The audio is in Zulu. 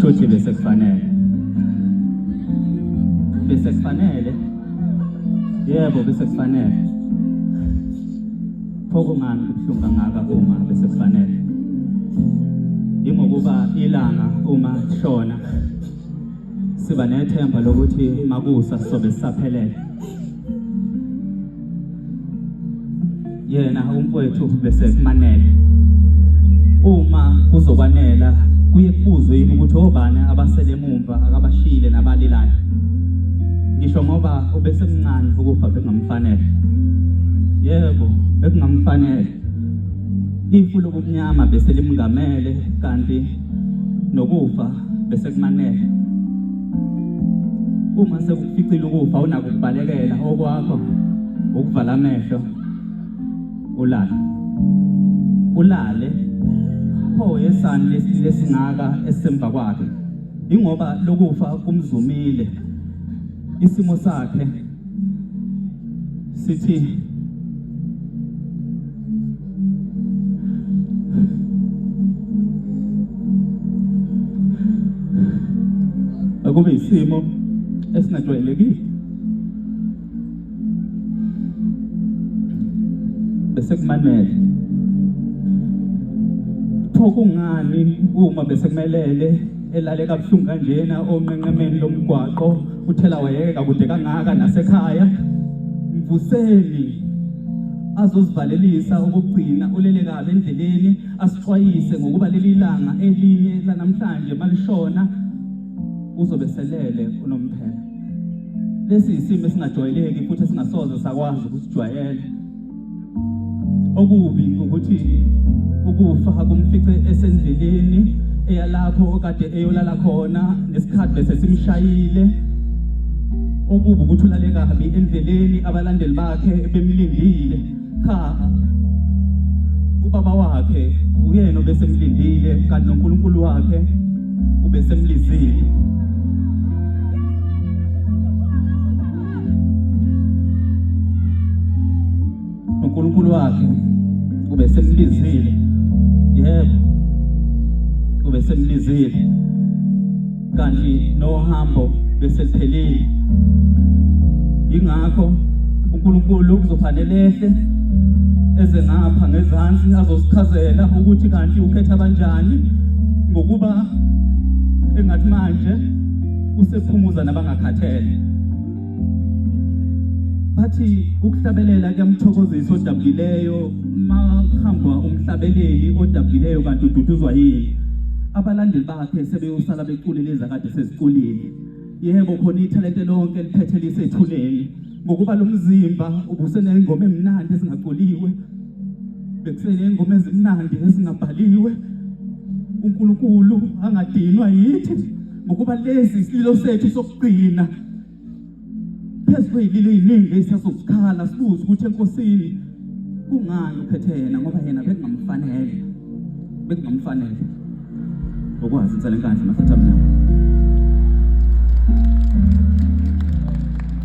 Shuthi bese kufanele. Bese kufanele. Yebo bese kufanele. Pho kungani kubuhlungu kangaka uma bese kufanele? Yingokuba ilanga uma lishona siba nethemba lokuthi makusa sobe sisaphelele. Yena umfowethu bese kumanele. Uma kuzokwanela kuye kubuzwe yini ukuthi obani abasele umva akabashiyile nabalilayo ngisho ngoba ubesemncane ukufa bekungamfanele yebo bekungamfanele ifu lobumnyama bese limngamele kanti nokufa bese kumanele uma sekukuficile ukufa unako ukubalekela okwakho ukuvala amehlo ulale ulale pho yesani lesile esingaka esisemva kwakhe ingoba lokufa kumzumile isimo sakhe sithi akube isimo esinajwayelekile bese kumanele pho kungani uma bese kumelele elale kabuhlungu kanjena onqenqemeni lomgwaqo uthela wayeka kude kangaka nasekhaya mvuseni azozivalelisa ukugcina ulele kabi endleleni asixwayise ngokuba leli langa elinye lanamhlanje malishona uzobe selele unomphela Lesi isimo esingajwayeleki futhi esingasoze sakwazi ukusijwayela. Okubi ukuthi ukufa kumfice esendleleni eyalapho okade eyolala khona ngesikhathi bese simshayile okubi ukuthi ulale kabi endleleni abalandeli bakhe bemlindile Cha. Ubaba wakhe uyena obesemlindile kanti noNkulunkulu wakhe ubesemlizile. uNkulunkulu wakhe ubesemlizile yebo ubesemlizile kanti nohambo beseliphelile ingakho uNkulunkulu kuzofanele ehle eze ngapha ngezansi azosichazela ukuthi kanti ukhetha kanjani ngokuba engathi manje usephumuza nabangakhathele bathi ukuhlabelela kuyamthokozisa odabukileyo uma uhamba umhlabeleli odabukileyo kanti ududuzwa yini abalandeli akhe sebeyosala beculele ezakade seziculile yebo khona ithalente lonke eliphethe lisethuleni ngokuba lo mzimba ubuseneyingoma emnandi ezingaculiwe bekuseneyingoma ezimnandi ezingabhaliwe unkulunkulu angadinwa yithi ngokuba lesi isililo sethu sokugcina phezu kweyililo iyiningi eyisasosikhala sibuze ukuthi enkosini kungani uphethe yena ngoba yena bekungamfanele bekungamfanele ngokwazi intsela enkandla mahlathi amnyama